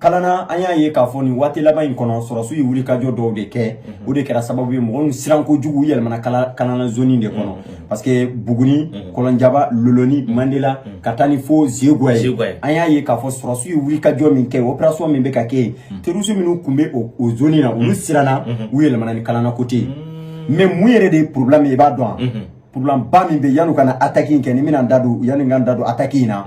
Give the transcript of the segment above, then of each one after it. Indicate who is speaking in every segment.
Speaker 1: kalanna an y'a ye k'a fɔ nin waati laban in kɔnɔ sɔrɔsiw ye wulikajɔ dɔw de kɛ mhm. o de kɛra sababu ye mɔgɔ min siran kojugu u yɛlɛmana kalanna zoni de kɔnɔ mhm. parce que buguni mhm. kolonjɛba loloni mandela ka taa ni fo zegua ye an y'a ye k'a fɔ sɔrɔsiw ye wulikajɔ min kɛ operation min bɛ ka kɛ yen terroriste minnu tun bɛ o zoni na olu siranna u yɛlɛmana ni kalanna côté ye mais mun yɛrɛ de ye problème ye i b'a dɔn wa problème ba min bɛ yan'u ka na attaque in kɛ ni n bɛna n da don yanni n ka n da don attaque in na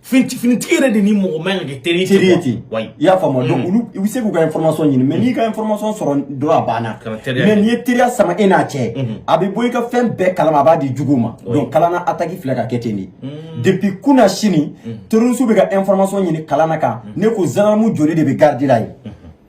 Speaker 1: Finiti finitigi yɛrɛ de ni mɔgɔ man kan ka kɛ teri ye ten Teri ye quoi. ten. Wayi. I y'a faamu wa? Donc, olu, i bɛ se k'u ka information ɲini, mais n'i ka information sɔrɔ dɔrɔn a banna. Kana teriya Mais kɛ. n'i ye teriya sama e n'a cɛ, a bɛ bɔ i ka fɛn bɛɛ kalama, a b'a di juguw ma. Donc, Kalanna attaque filɛ ka kɛ ten de. Depuis kunnasini, terroriste bɛ ka information ɲini Kalanna kan, ne ko gendarme joli de bɛ garde la yen.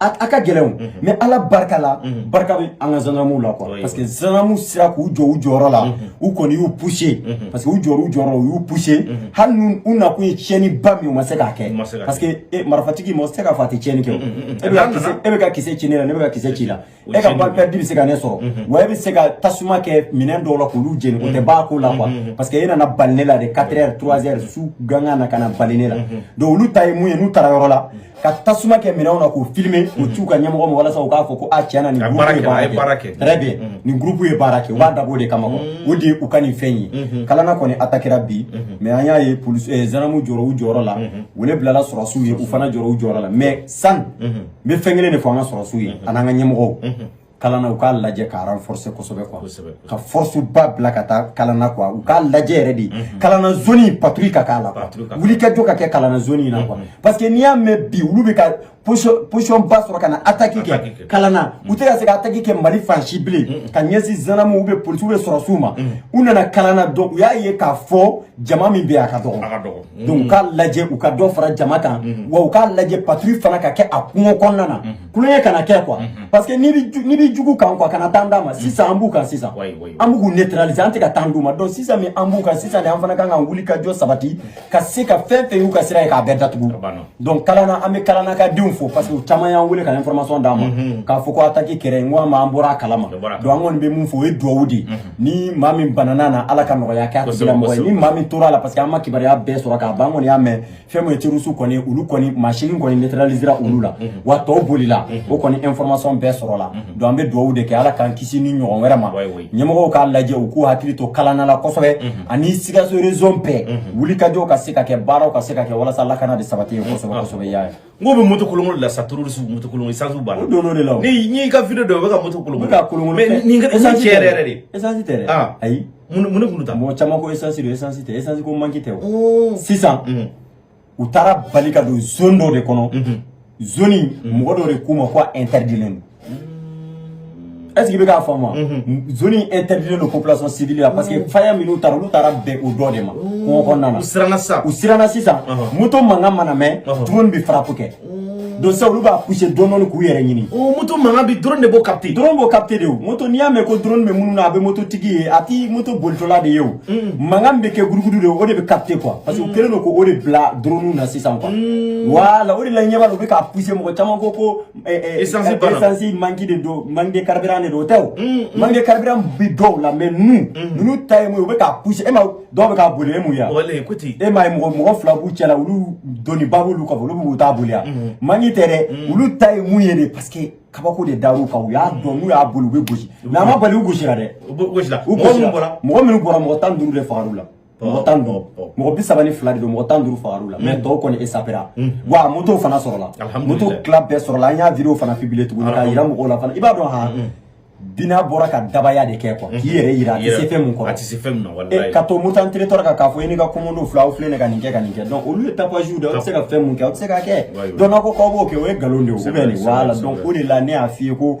Speaker 1: a ka gɛlɛn mais ala barika la barika bɛ an ka zanamuw la quoi parce que zanamuw sera k'u jɔ u jɔyɔrɔ la u kɔni y'u pousser parce que u jɔyɔrɔ u jɔyɔrɔ u y'u pousser hali n'u u nakun ye tiɲɛni ba min u ma se k'a kɛ parce que marifatigi mɔgɔ tɛ se k'a fɔ a tɛ tiɲɛni kɛ e bɛ ka kisɛ ci ne la ne bɛ ka kisɛ ci i la e ka balle perdue bɛ se ka ne sɔrɔ mhm. wa e bɛ se ka tasuma kɛ minɛn dɔw la k'olu jeni o tɛ mhm. b'a ko la quoi mhm. parce que e nana bali ne la de 4 heures 3 heures su gangan na ka na bali ne la donc olu ta ye mun ye n'u taara yɔrɔ la ka tasuma kɛ minɛnw na k'o filmer k'o ci u ka ɲɛmɔgɔ ma walasa u k'a fɔ ko a tiɲɛ na nin groupe ye baara kɛ très bien nin groupe ye baara kɛ u b'a dabɔ o de kama quoi o de ye u ka nin fɛn ye kalana kɔni atakira bi mais an y'a ye polisi eh, zanamuw jɔra u jɔyɔrɔ la wele bilala sɔrɔsiw ye u fana jɔra u jɔyɔrɔ la mais san n bɛ fɛn kelen de fɔ an ka sɔrɔsiw ye ani an ka ɲɛmɔgɔw kalanna u k'a lajɛ ka renforcer kosɛbɛ quoi ka force ba bila ka taa kalanna quoi u k'a lajɛ yɛrɛ de kalanna zone patrouille ka k'a la wulikajɔ ka kɛ kalanna zone in na quoi parce que n'i y'a mɛn bi olu bɛ ka position position ba sɔrɔ ka na attaque kɛ kalanna u tɛ ka se ka attaque kɛ Mali fan si bilen ka ɲɛsin zanamu ou bien policiers ou bien sɔrɔsiw ma u nana kalanna donc u y'a ye k'a fɔ jama min bɛ a ka dɔgɔ donc k'a lajɛ u ka dɔ fara jama kan wa u k'a lajɛ patrouille fana ka kɛ a kungo kɔnɔna na kulonkɛ kana kɛ quoi parce que n'i bɛ jugu kan quoi kana temps d'a ma sisan an b'u kan sisan an bɛ k'u neutraliser an tɛ ka temps d'u ma donc sisan min an b'u kan sisan de an fana kan ka wuli ka jɔ sabati ka se ka fɛn fɛn y'u ka sira ye k'a bɛɛ datugu donc kalanna an bɛ kalanna ka denw fo parce que u caman y'an wele ka information d'an ma k'a fɔ ko attaque kɛra yen n ko an b'an bɔra a kalama donc an kɔni bɛ mun fɔ o ye duwawu de ye ni maa min banana na ala ka nɔgɔya kɛ tigilamɔgɔ ye ni maa min tora a la parce que an ma kibaruya bɛɛ sɔrɔ k'a ban an kɔni y'a mɛn fɛn min ye terroriste kɔni olu kɔni masini kɔni neutralisera olu la wa tɔw bolila o kɔni information bɛɛ sɔrɔla donc an bɛ dugawu de kɛ ala k'an kisi nin ɲɔgɔn wɛrɛ ma ɲɛmɔgɔw k'a lajɛ u k'u hakili to kalanna la kosɛbɛ ani sikaso région bɛɛ wulikajɔw ka se ka kɛ baaraw ka se ka kɛ walasa lakana de sabati ye kosɛbɛ kosɛbɛ i y'a ye n ko u bɛ moto kolonkolon de la sa terroriste moto kolonkolon essence b'a la. o donn'o de la o. ni n'i ka video dɔ u bɛ ka moto kolonkolon. u bɛ k'a kolonkolon mais nin ka essence tiɲɛ yɛrɛ yɛrɛ de. essence tɛ dɛ. aa ayi. mun mun ne kun ta. mɔgɔ caman ko essence don essence tɛ essence ko manki tɛ o. sisan. u taara bali ka don zone dɔ de kɔnɔ. zone in mɔgɔ dɔ de k'u ma ko a interdilen don. Est-ce que i bɛ k'a faamu wa? Zone in interdit don population civile la parce que faya minnu taara olu taara bɛn o dɔ de ma kungo kɔnɔna na. U siranna sisan. U siranna sisan. Moto mankan mana mɛn drone bɛ frappe kɛ. Donc sisan olu b'a pousser dɔɔni dɔɔni k'u yɛrɛ ɲini. O moto mankan bɛ drone de b'o capter. Drone b'o capter de o. Moto n'i y'a mɛn ko drone bɛ minnu na a bɛ moto tigi ye a tɛ moto bolitɔla de ye o. Mankan bɛ kɛ gudugudu de o de bɛ capter quoi parce que u kɛlen don k'o de bila drone na sisan quoi. Voilà o de la i ɲɛ b'a la u bɛ k'a pousser mɔgɔ caman ko ko esansi bana esansi manki de don manki de carburant de don o tɛ o manki de carburant bi dɔw la mais nu ninnu ta ye mun ye u bɛ k'a pousse e ma dɔw bɛ k'a boli e mun ya e ma ye mɔgɔ mɔgɔ fila b'u cɛ la olu doniba b'olu kɔfɛ olu b'u ta boli ya manki tɛ dɛ olu ta ye mun ye de parce que kabako de dar'u kan u y'a dɔn n'u y'a boli u bɛ gosi mais a ma bali u gosira dɛ u gosira mɔgɔ minnu bɔra mɔgɔ minnu bɔra mɔgɔ tan ni duuru de fagar'u la mɔgɔ tan dɔn mɔgɔ bi saba ni fila de don mɔgɔ tan ni duuru fagar'u la mɛ tɔw kɔni esapera wa moto fana sɔrɔla moto tila bɛɛ sɔrɔla an y'a video fana publie tuguni k'a yira mɔgɔw la fana i b'a dɔn ha bina bɔra ka dabaya de kɛ kuwa k'i yɛrɛ yira a tɛ se fɛn mun kɔrɔ a tɛ se fɛn mun na walayi ka to moritani territoire kan k'a fɔ e n'i ka kɔmɔndenw fila aw filɛ ka nin kɛ ka nin kɛ donc olu ye tapage de aw tɛ se ka fɛn mun kɛ aw tɛ se k'a kɛ donc n'aw ko k'aw b'o kɛ o ye nkalon de ye o bɛ nin wala donc o de la ne y'a f'i ye ko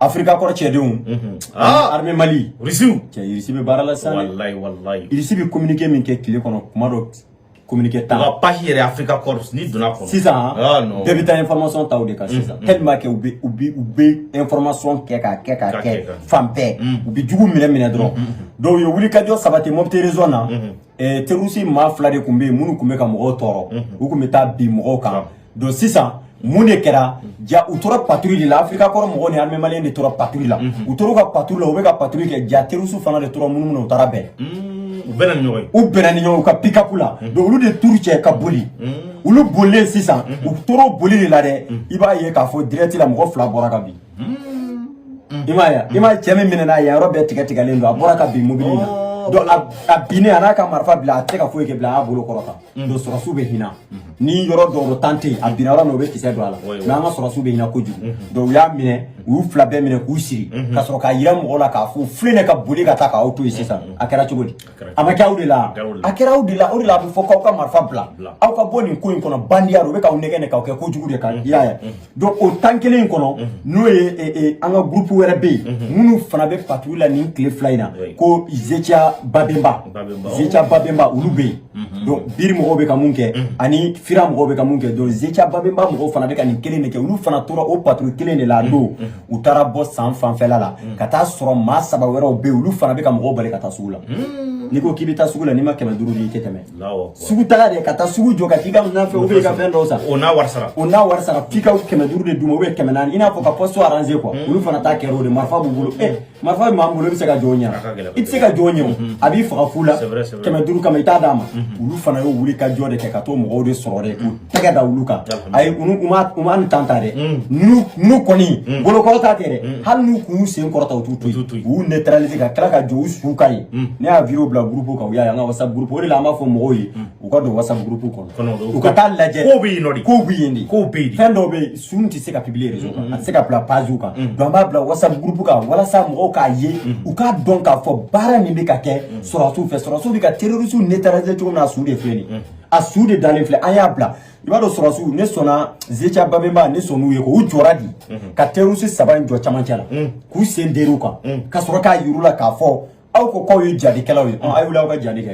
Speaker 1: africa corps cɛdenw mhm. ah! armée mali irisiw cɛ irisi bɛ baara la sisan walayi walayi irisi bɛ communiqué min kɛ tile kɔnɔ tuma dɔ communiqué tan u ka page yɛrɛ africa corps n'i donna kɔnɔ sisan ah, bɛɛ bɛ taa information ta o de kan mhm, sisan mhm. tellement que u bɛ u bɛ u bɛ information kɛ k'a kɛ k'a kɛ fan bɛɛ u bɛ jugu minɛ minɛ dɔrɔn donc u ye wulikajɔ sabati mopti région na eh, terroriste maa fila de tun bɛ yen minnu tun bɛ ka mɔgɔw tɔɔrɔ u tun bɛ taa bin mɔgɔw kan don sisan mun de kɛra ja u tora patrouille de la africa corps mɔgɔw ni armée malienne de tora patrouille la u tora ka patrouille la u bɛ ka patrouille kɛ ja terroriste fana de tora munumunu u taara bɛn u bɛnna ni ɲɔgɔn ye u bɛnna ni ɲɔgɔn ye u ka pikapu la donc olu de turu cɛ ka boli olu bolilen sisan u tora boli de la dɛ i b'a ye k'a fɔ dirɛti la mɔgɔ fila bɔra ka bin I ma ye i ma cɛ min minɛna ye a yɔrɔ bɛɛ tigɛ tigɛlen don a bɔra ka bin mobili la donc a binnen a y'a ka marifa bila a tɛ ka foyi kɛ bilen a y'a bolo kɔrɔta donc sɔrɔdasiw bɛ hinɛ ni yɔrɔ dɔw don tan tɛ yen a binna yɔrɔ min u bɛ kisɛ don a la mais an ka sɔrɔdasiw bɛ hinɛ kojugu donc u y'a minɛ u y'u fila bɛɛ minɛ k'u siri ka sɔrɔ k'a jira mɔgɔw la k'a fɔ u filɛ nin ye ka boli ka taa k'aw to yen sisan a kɛra cogo di a bɛ kɛ aw de la a kɛra aw de la o de la a bɛ fɔ k'aw ka marifa bila aw ka bɔ nin ko in kɔnɔ bandiya don u bɛ k'aw nɛgɛn nɛgɛn k'aw kɛ kojugu de kan i y'a ye donc o temps kelen in kɔnɔ n'o ye an ka groupe wɛrɛ bɛ yen minnu fana bɛ patrouille la nin tile fila in na ko gtia babemba gtia babemba olu bɛ yen donc bir mɔgɔw bɛ ka mun kɛ ani fira mɔgɔw bɛ ka mun kɛ donc gtia babemba mɔgɔw fana bɛ ka nin kelen de kɛ olu fana tora o patrouille kelen de la a don u taara bɔ san fanfɛla la mm. ka taa sɔrɔ maa saba wɛrɛw bɛ olu fana bɛ ka mɔgɔw bali ka taa sugu la mm. n'i ko k'i bɛ taa sugu la n'i ma kɛmɛ duuru di i tɛ tɛmɛ sugu taga de ka taa sugu jɔ ka t'i ka minɛn feere ka fɛn dɔw san o n'a wari sara o n'a wari sara f'i ka kɛmɛ duuru de d'u ma u bɛ kɛmɛ naani i n'a fɔ ka poste arranger quoi mm. olu fana ta kɛra o de marifa b'u bolo marifa bɛ maa min bolo i bɛ se ka jɔ a ɲɛ i tɛ se ka jɔ a ɲɛ a b'i faga fu la kɛmɛ duuru kama i t'a d'a ma olu fana y'o wuli ka jɔ de kɛ ka to mɔgɔw de sɔrɔdasiw k'u tɛgɛ da olu kan a ye u ma ni tan ta dɛ n'u kɔni bolo kɔrɔta kɛ dɛ hali n'u k'u sen kɔrɔta u t'u to yen u y'u neutraliser ka tila ka jɔ u su kan yen ne y'a video bila groupe kan u y'a ye an ka whatsapp groupe o de la an b'a fɔ mɔgɔw ye u ka don whatsapp groupe kɔnɔ u ka taa lajɛ kow bɛ yen nɔ de kow bɛ yen de kow bɛ yen de fɛn dɔw bɛ yen su ninnu tɛ se ka publier réseau kan a tɛ se ka bila page kan donc an b'a bila whatsapp groupe kan walasa mɔgɔw k'a ye u k'a dɔn k'a fɔ baara min bɛ ka kɛ sɔrɔdasiw fɛ sɔrɔdasiw bɛ ka terroriste neutraliser cogo min na a su de filɛ nin ye a su de dalen filɛ an y'a bila i b'a dɔn sɔrɔdasiw ne sɔnna gtia babemba ne sɔnn'u ye ko u jɔra di ka terroriste saba in jɔ camancɛ la k'u sen der'u kan ka sɔrɔ k'a yir'u la k'a fɔ aw ko k'aw ye jahadikɛlaw ye aw wuli aw ka jahadi kɛ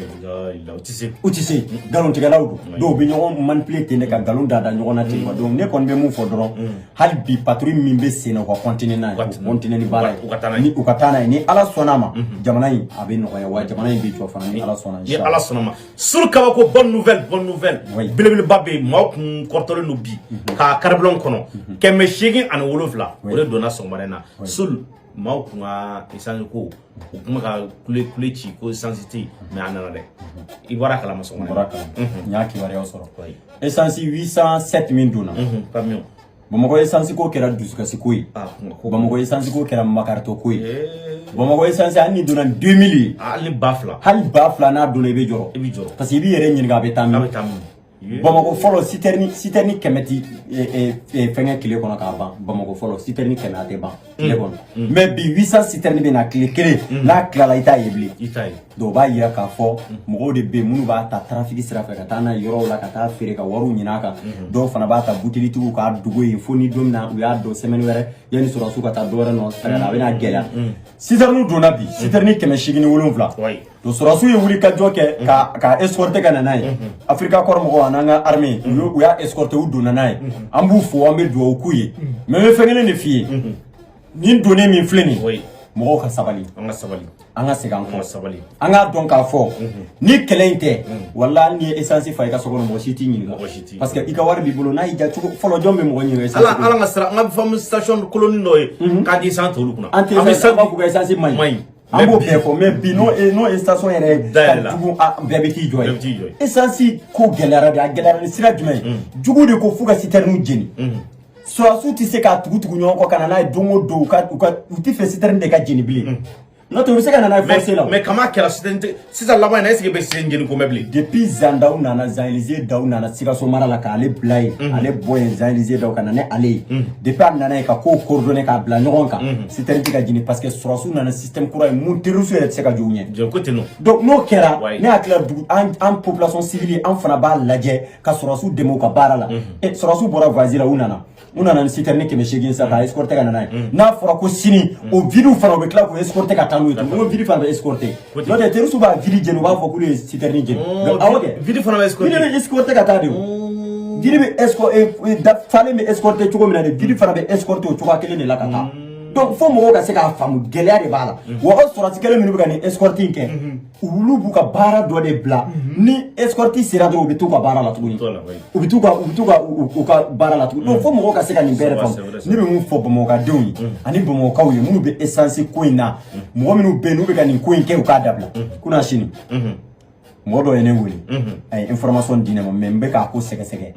Speaker 1: u tɛ se u tɛ se nkalontigɛlaw don dɔw bɛ ɲɔgɔn manipule ten de ka nkalon da da ɲɔgɔn na ten wa donc ne kɔni bɛ mun fɔ dɔrɔn hali bi patrouille min bɛ sen na u ka kɔntine n'a ye u kɔntine ni baara ye ni u ka taa n'a ye ni ala sɔnna a ma jamana in a bɛ nɔgɔya wa jamana in bɛ jɔ fana ni ala sɔnna ni ala sɔnna ma sulu kabako bonne nouvelle bonne nouvelle belebeleba bɛ yen maaw kun kɔrɔtalen don bi k'a carburant kɔnɔ kɛmɛ seegin ani wolonwula o de donna sɔgɔmada in na sulu maaw tun ka isansi ko u tun bɛ ka kule kule ci ko isansi tɛ yen mais a nana dɛ i bɔr'a kalama sɔgɔma bɔr'a kalama n y'a kibaruyaw sɔrɔ isansi 807 min donna pamiyo bamakɔ isansi ko kɛra dusukasi ko ye bamakɔ isansi ko kɛra makaritɔ ko ye bamakɔ isansi hali ni donna 2000 ye hali ba fila hali ba fila n'a donna i bɛ jɔrɔ i bɛ jɔrɔ parce que i b'i yɛrɛ ɲininka a bɛ taa min a bɛ taa min bamakɔ fɔlɔ sitɛrini sitɛrini kɛmɛ tɛ fɛnkɛ tile kɔnɔ k'a ban bamakɔ fɔlɔ sitɛrini kɛmɛ a tɛ ban tile kɔnɔ mais bi 800 sitɛrini bɛ na tile kelen n'a tilala i t'a ye bilen donc o b'a yira k'a fɔ mɔgɔw de bɛ yen minnu b'a ta tarafiki sira fɛ ka taa n'a ye yɔrɔw la ka taa feere ka wariw ɲin'a kan dɔw fana b'a ta butelitigiw k'a dogo yen fo ni don min na u y'a dɔn sɛmɛni wɛrɛ yanni sɔrɔdasiw ka taa dɔ wɛrɛ nɔ segin na a bɛna gɛlɛya sitɛriniw donna bi sitɛrini kɛmɛ seegin ni wolonwula donc sɔrɔsiw ye wulikajɔ kɛ ka ka escorte ka na n'a ye Africa Corps mɔgɔw an'an ka arme u y'o- u y'a escorte u donna n'a ye an b'u fo an bɛ dugawu k'u ye mɛ n bɛ fɛn kelen de f'i ye nin donnen min filɛ nin ye Oui. mɔgɔw ka sabali an ka sabali an ka segin an an ka kɔ sabali an k'a dɔn k'a fɔ ni kɛlɛ in tɛ wala hali n'i ye esansi fa i ka so kɔnɔ mɔgɔ si t'i ɲininka Mɔgɔ si t'i parce que i ka wari b'i bolo n'a y'i ja cogo fɔlɔ jɔn bɛ mɔgɔ ɲininka ala esansi ko ala ka sira an ka faamu station koloni dɔ ye k'a di san tolu kunna an tɛ bɛ fɛn san sababu u ka esansi man man ɲi ɲi an b'o bɛɛ fɔ mɛ bi n'o e n'o station yɛrɛ ye ka jugu bɛɛ bɛ t'i jɔ yen esansi ko gɛlɛyara de a gɛlɛyara ni sira jumɛn ye jugu de ko fo ka sitɛriniw jeni sɔrɔsiw tɛ se k'a tugu tugu ɲɔgɔn kɔ ka na n'a ye don o don u ka u t'a fɛ sitɛrini de ka jeni bilen n'o tɛ u bɛ se ka na n'a ye force la mais kama kɛra sitɛrini tɛ sisan laban na esike i bɛ sen jeni ko mɛn bilen depuis Jean Dao nana Jean Élisée Dao nana sikaso mara la k'ale bila yen mhm. ale bɛ yen Jean Élisée Dao ka na n'ale ye mhm. depuis a nana yen ka kow coordonne k'a bila ɲɔgɔn kan mhm. sitɛrini tɛ ka jeni parce que sɔrɔsiw nana ni système kura ye min terroriste yɛrɛ tɛ se ka jɔ u ɲɛ ko teno donc n'o kɛra ne hakili la dugu an population civile an fana b'a lajɛ ka sɔrɔsiw dɛmɛ u ka baara la sɔrɔsiw bɔra voyage la u nana u nana ni sitɛrɛni kɛmɛ seegin sa ka escorte ka na n'a ye mm. n'a fɔra ko sini mm. o vidiw fana u bɛ tila k'o escorte ka taa n'u ye tuguni o vidi fana bɛ escorte n'o tɛ terɔrisiw b'a vidi jeni u b'a fɔ k'olu ye sitɛrɛni jeni oh, awɔ kɛ vidi fana bɛ escorte vidi bɛ escorte ka taa de o oh. vidi bɛ escorte eh, eh, falen bɛ escorte cogo min na de vidi fana bɛ escorte o cogoya kelen de la ka taa mm. donc fo mɔgɔw ka se k'a faamu gɛlɛya de b'a la wa o sɔrɔsi kelen minnu bɛ ka nin escorte in kɛ olu b'u ka baara dɔ de bila mhm. ni escorte sera dɔrɔn u bɛ t'u ka baara la tuguni u bɛ t'u ka u bɛ t'u ka u ka baara la tuguni donc mhm. fo mɔgɔw ka se ka nin bɛɛ de faamu ne bɛ min fɔ bamakɔkadenw ye mhm. ani bamakɔkaw ye minnu bɛ essence ko in na mɔgɔ minnu bɛ yen n'u bɛ ka nin ko in kɛ u k'a dabila kunasini mɔgɔ dɔ ye ne wele a ye information di ne ma mɛ n bɛ k'a ko sɛgɛsɛgɛ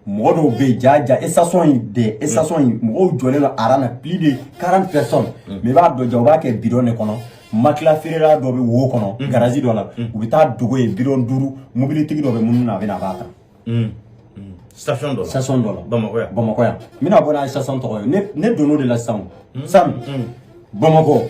Speaker 1: mɔgɔ dɔw bɛ yen jaa jaa station in de station in mɔgɔw jɔlen don aran na plus de 40 personnes mais i b'a dɔn jaa u b'a kɛ bidɔn de kɔnɔ matila feerela dɔ bɛ o kɔnɔ garazi dɔ la u bɛ t'a dogo yen bidɔn duuru mobilitigi dɔ bɛ munumunu na a bɛ na a b'a ta station dɔ la station dɔ la bamakɔ yan bamakɔ yan n bɛna bɔ n'a ye station tɔgɔ ye ne ne donn'o de la sisan o sani bamakɔ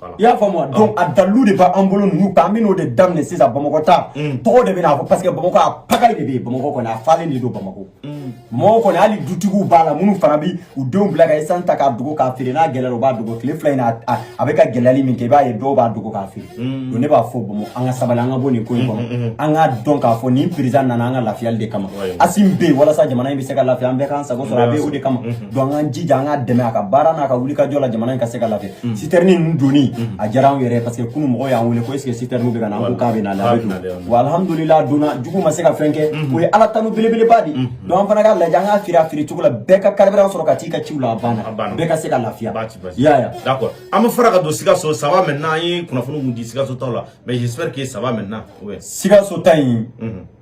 Speaker 1: Voilà. I y'a faamu wa donc a dalilu de b'an bolo ninnu kan an bɛn'o de daminɛ sisan bamakɔ ta tɔgɔ de bɛ na parce que bamakɔ a pagaille de bɛ yen bamakɔ kɔni a falen de don bamakɔ mɔgɔw kɔni hali dutigiw b'a la minnu fana bɛ u denw bila ka esansi ta k'a dogo k'a feere n'a gɛlɛyara u b'a dogo tile fila in na a- a bɛ ka gɛlɛyali min kɛ i b'a ye dɔw b'a dogo k'a feere donc ne b'a fɔ bamakɔ an ka sabali an ka bɔ nin ko in kɔnɔ an k'a dɔn k'a fɔ nin perezidan nana an ka lafiyali de kama Ouais. Asimi bɛ yen walasa jamana in bɛ se ka lafiya an bɛɛ k'an sago sɔrɔ a bɛ o de kama donc an jija an k'a dɛmɛ a ka baara n'a ka wulikajɔ la jamana in ka se ka lafiya mm. sitɛrini ninnu donni mm. a diyara anw yɛrɛ parce que kunu mɔgɔw y'an wele ko est ce que sitɛriniw bɛ ka na an ko k'a bɛ na la a bɛ don wa alhamdulila donna jugu ma se ka fɛn kɛ mm-hmm. o ye ala tanu belebeleba de mm-hmm. donc an fana ka lajɛ an k'a feere a feere cogo la bɛɛ ka karibiran sɔrɔ ka t'i ka ciw la a banna bɛɛ ka se ka lafiya y'a ye d'accord an bɛ fara ka don sikaso ça va maintenant an ye kunnafoni mun di sikaso taw la mais j'espère que ça va maintenant sikaso ta in mm-hmm.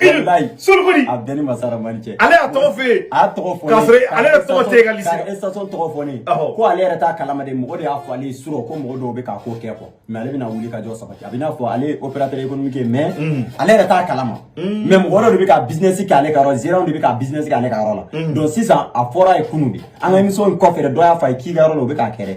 Speaker 1: Walayi. Solukuni. A bɛɛ ni Masara Mali cɛ. Ale y'a tɔgɔ f'e ye. A y'a tɔgɔ fɔ ne ye. K'a sɔrɔ ale yɛrɛ tɔgɔ tɛ e ka liste la. Ka station tɔgɔ fɔ ne ye. Awɔ. Ko ale yɛrɛ t'a kalama dɛ, mɔgɔ de y'a fɔ ale ye surɔ ko mɔgɔ dɔw bɛ k'a ko kɛ quoi mais ale bɛna wuli ka jɔ sabati. A bɛ i n'a fɔ ale ye opérateur économique ye mais ale yɛrɛ t'a kalama. Mais mɔgɔ dɔ de bɛ ka business kɛ ale ka yɔrɔ la, gérant de bɛ ka business kɛ ale ka yɔrɔ la. Donc sisan a fɔra a ye kunun de, an ka émission in kɔfɛ dɛ, dɔ y'a fɔ a ye k'i ka yɔrɔ la u bɛ k'a kɛ dɛ.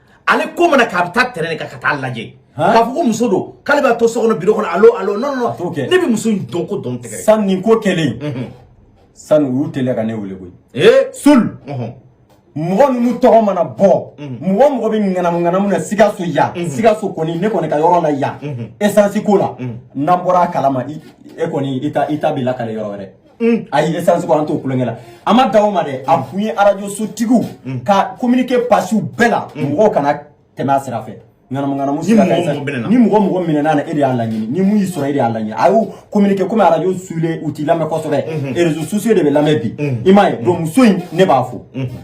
Speaker 1: ale ko mana k'a bɛ taa tɛrɛn kan ka taa lajɛ k'a fɔ ko muso don k'ale bɛ to so kɔnɔ biro kɔnɔ alo alo non non ne bɛ muso in dɔn ko dɔn tɛgɛ san nin ko kɛlen mhm. san u y'u teliya ka ne wele koyi ee sul mhm. mɔgɔ minnu tɔgɔ mana bɔ mhm. mɔgɔ o mɔgɔ bɛ ŋanamu ŋanamu na sikaso yan sikaso kɔni ne kɔni ka yɔrɔ la yan esansi ko la n'an bɔra a kalama e kɔni i ta i ta bɛ lakale yɔrɔ wɛrɛ Mm. ayi essence ko an t'o tulonkɛ la a ma dan o ma dɛ an mm. kun ye arajo sotigiw mm. ka communiqué passé u bɛɛ la mɔgɔw kana tɛmɛ a sira fɛ ŋanamuŋanamu sira ka essence ni mɔgɔ o mɔgɔ minɛna a na e de y'a laɲini ni mun y'i sɔrɔ e de y'a laɲini an y'o communiqué komi arajo Sule u tɛ lamɛn kosɛbɛ mm-hmm. réseaux sociaux de bɛ lamɛn bi mm-hmm. i m'a ye donc muso in ne b'a fo mm-hmm.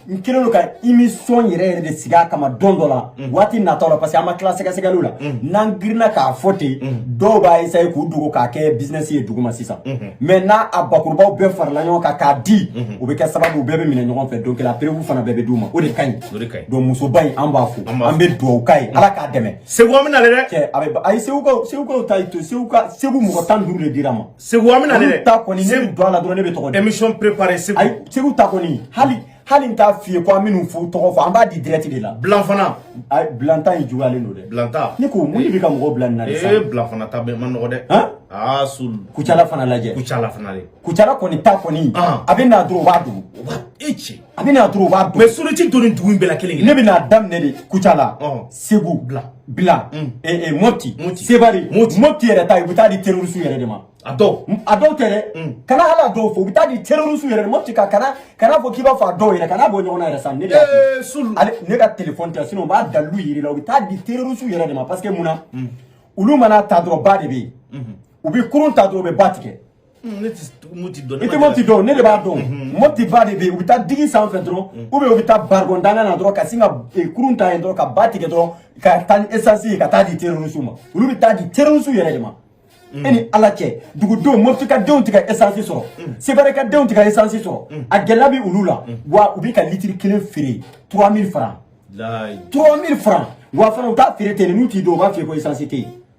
Speaker 1: n kɛlen don ka émission yɛrɛ yɛrɛ de sigi a kama don dɔ la mm. waati natɔ la parce que an ma tila sɛgɛsɛgɛliw la mm. n'an girinna k'a fɔ ten mm. dɔw b'a esaye k'u dogo k'a kɛ bisinɛsi ye duguma sisan mais mm-hmm. n'a a bakurubaw bɛɛ farala ɲɔgɔn kan k'a di mm-hmm. o bɛ kɛ sababu u bɛɛ bɛ minɛ ɲɔgɔn fɛ donc la preuve fana bɛɛ bɛ d'u ma o de ka ɲi donc musoba in an b'a fo an bɛ duwawu k'a ye ala k'a dɛmɛ segu an bɛ na le dɛ cɛ a bɛ a ye segu ka segu ka ta to segu ka segu mɔgɔ tan ni duuru de dira an ma Segu an bɛna dɛ ta kɔni ne don a la dɔrɔn ne bɛ tɔgɔ émission préparé Segu ayi Segu ta kɔni hali hali n t'a f'i ye ko an minnu fo tɔgɔ fɔ an b'a di direct de la Bila fana ayi Bila ta in juguyalen don dɛ Bila ta ne ko mun de bɛ ka mɔgɔw bila nin na sisan ee Bila fana ta bɛɛ man nɔgɔ dɛ han aa sul kucala fana lajɛ kucala fana de kucala kɔni ta kɔni a bɛ na dɔrɔn u b'a dogo u b'a e cɛ a bɛ na dɔrɔn u b'a mɛ soloci donni dugu in bɛɛ la kelen ne bɛ n'a daminɛ de kucala segu bila mɔti sewari mɔti yɛrɛ ta u bɛ taa di terrorisiw yɛrɛ de ma a dɔw a dɔw tɛ dɛ kana hali a dɔw fɔ u bɛ taa di terrorisiw yɛrɛ de ma mɔti ka kana kan'a fɔ k'i b'a fɔ a dɔw yɛrɛ kana bɔ ɲɔgɔn na yɛrɛ sa ne ale ne ka telefɔni tɛ sinon n b'a dalilu yira i la u bɛ taa di terrorisiw yɛrɛ de ma parce que mun na olu man'a ta dɔrɔn ba de bɛ yen u bɛ kurun ta dɔrɔn u bɛ ba tigɛ Hmm, ne ti moti dɔn. i tɛ moti dɔn ne de b'a dɔn mhm. moti ba de bɛ yen u bɛ taa digi sanfɛ dɔrɔn hmm. u bɛ u bɛ taa barikɔn dankan na dɔrɔn ka sin ka eh, kurun ta yen dɔrɔn ka ba tigɛ dɔrɔn ka taa ni esansi ye ka taa di terorisiw ma olu bɛ taa di terorisiw yɛrɛ de ma. Hmm. e ni ala cɛ dugudenw moti ka denw tɛ ka esansi sɔrɔ sebare ka denw tɛ ka esansi sɔrɔ a gɛlɛya bɛ olu la wa u bɛ ka litiri kelen feere trois mille francs trois mille francs wa fana u t'a feere ten n'u t'i dɔn u b'a f'i ye ko esansi tɛ yen.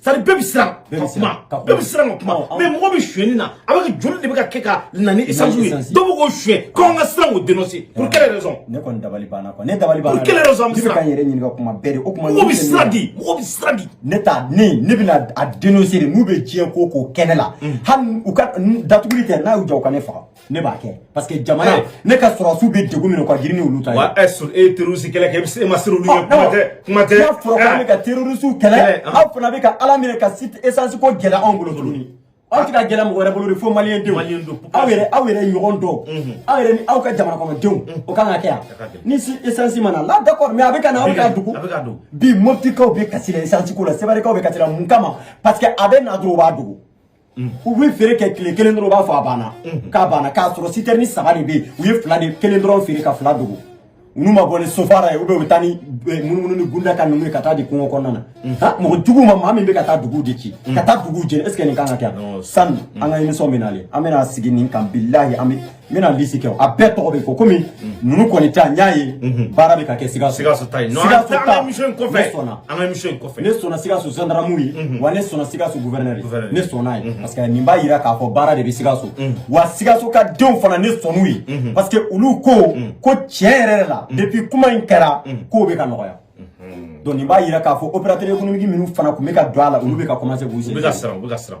Speaker 1: sari bɛɛ bɛ siran ka kuma bɛɛ bɛ siran ka kuma mais mɔgɔ bɛ suyɛnni na avec joli de bɛ ka kɛ ka na ni esansi ye dɔw bɛ k'o suyɛn ko an ka siran k'o dénoncer pour quelle raison ne kɔni dabali banna quoi ne dabali banna pour quelle raison an bɛ siran ka n yɛrɛ ɲininka kuma bɛɛ de o kuma mɔgɔ bɛ siran de mɔgɔ bɛ siran de ne ta ne ne bɛna a dénoncer de n'u bɛ diɲɛ ko ko kɛ ne la hali u ka datuguli tɛ n'a y'u jɔ u ka ne faga ne b'a kɛ parce que jamana eh. ne ka sɔrɔdasiw bɛ degun min ka girin ni olu ta ye. wa ɛ sur e ye terroriste kɛlɛ kɛ e ma siran olu ye kuma tɛ kuma tɛ. n'a fɔra k'an bɛ ka terroriste kɛlɛ aw fana bɛ ka ala minɛ ka site essence ko gɛlɛya anw bolo tuguni. aw tɛ ka gɛlɛya mɔgɔ wɛrɛ bolo de fo maliyɛn denw aw yɛrɛ aw yɛrɛ ɲɔgɔn dɔw aw yɛrɛ ni aw ka jamana kɔnɔdenw o kan ka kɛ yan ni si essence ma na la d'accord mais a bɛ ka na aw bɛ k'a dogo bi moptikaw bɛ kasi la essence ko la sebarikaw bɛ kasi la mun kama parce que a bɛ na dɔrɔn u b'a dogo. u bɛ feere kɛ tile kelen dɔrɔn u b'a fɔ a banna k'a banna k'a sɔrɔ sitɛrini saba de bɛ yen u ye fila de kelen dɔrɔn feere ka fila dogo n'u ma bɔ ni sofara ye u bɛ u bɛ taa ni munumunu ni gunda ka ninnu ye ka taa di kungo kɔnɔna na mɔgɔ jugu ma maa min bɛ ka taa duguw de ci ka taa duguw jeni est ce que nin kan ka kɛ yan sani an ka émission bɛ nalen an bɛna sigi nin kan bilahi an bɛ n bɛna lisi kɛ a bɛɛ tɔgɔ bɛ fɔ komi mm. ninnu kɔni ta n y'a ye mhm. baara bɛ ka kɛ sikaso sikaso ta ye ne sɔnna an ka émission in kɔfɛ ne sɔnna sikaso zandaramu ye mhm. wa ne sɔnna sikaso gouverneur ye ne sɔnn'a ye mhm. parce que nin b'a jira k'a fɔ baara de bɛ sikaso wa sikaso ka denw fana ne sɔnn'u ye parce que olu ko ko tiɲɛ yɛrɛ la depuis kuma in kɛra kow bɛ ka nɔgɔya donc nin b'a jira k'a fɔ opérateur économique minnu fana tun bɛ ka don a la olu bɛ ka commencer k'u sen u bɛ ka siran u bɛ ka siran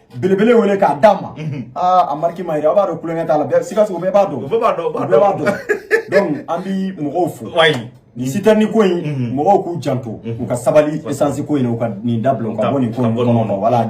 Speaker 1: belebele wele k'a d'a ma mhm. aa ah, a mariki ma yɛrɛ aw b'a dɔn kulonkɛ t'a la bɛɛ sikaso bɛɛ b'a dɔn bɛɛ b'a dɔn bɛɛ b'a dɔn donc an bi mɔgɔw fo nin sitɛrni ko in mhm. mɔgɔw k'u janto mhm. u ka sabali esansi ko in u ka nin dabila u ka bɔ nin ko in kɔnɔ wala